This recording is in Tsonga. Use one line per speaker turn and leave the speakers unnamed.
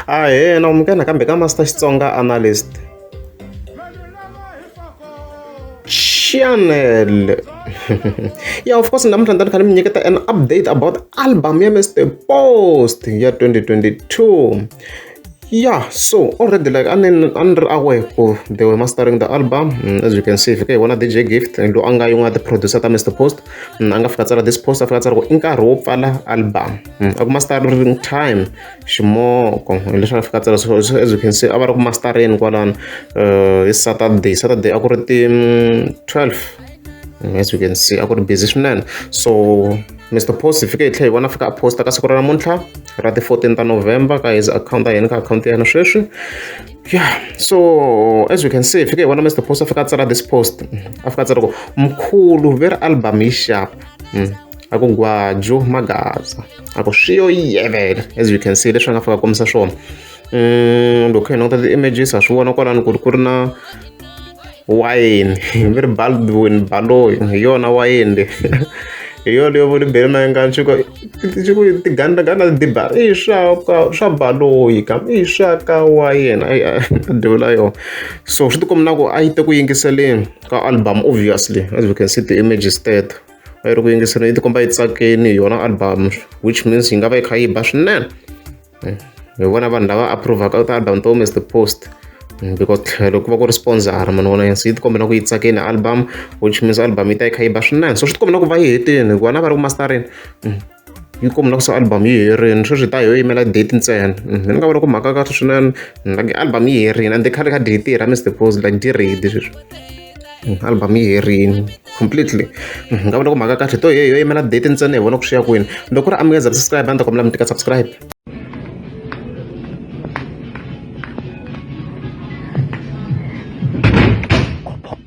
ahena umkena kambe ka master xitsonga analyst channel yeah of course namuntlha ndani kha ni mi nyiketa an update about album ya mr post ya 2022 yeah so already like a ni ri aware ku they were mastering the album mm, as you can see fika hi vona dj gift lo a nga yin'wana ya ti-producer ta mr post mm, a nga fika tsala this post a fika tsala ku i nkarhi wo pfala album Mm, a ku mastering time ximoko hileswi a fika tsala so as you can see a va ri ku mastereni kwalano um hi saturday saturday a ku ri ti mm, twelve mm, as you can see a ku ri busy swinene so mr post hi fike hi tlhe hi vona fika a posta ka siku ra namuntlha ra ti fourteen ta november ka his account a yena ka akhawunti ya yena sweswi ya so as you can see hi fike hi vona mr post a fika a tsala this post a fika a tsala ku mkhulu ve ri album yi xapa ako gwajo magaza ako swiyo yevela as you can see leswi a nga fika kombisa swona mm, loko hi languta ti-images ha swi vona kwalani ku ri ku ri na wayini mi ri baldwin baloyi hi yona wayini le hi yona yo voni bele na nga chiko chiko tiganda ganda diba i swa ka swa baloyi ka i swa ka wa yena ai devula yo so swi tikomba na ku a yi te ku yingiseleni ka album obviously as we can see the images teto va yi ri ku yingiseleni yi tikomba yi tsakini hi yona album which means yi nga va yi kha yi ba swinene eh, hi vona vanhu lava approvaka ti-album to mr post mm, because tlhelo ku va ku ri sponsor mani vona se yi tikombela ku yi tsakeni album which means album yi ta yi kha yi ba swinene so swi tikombela ku va yi hetini hikuva na va ri ku masterini mm. inkomu la ku se album yi herini sweswi hi ta yo yimela date ntsena mhm, ni nga vona ku mhaka kahle swinene mhm, like album yi herini and khale ka date ra mr pose like di ready sweswi mhm, album yi herini completely nga vona ku mhaka kahle to yo yimela date ntsena hi vona ku swiya kwini loko ku ri amukeza subscribe a ni ta kombela mi tika subscribe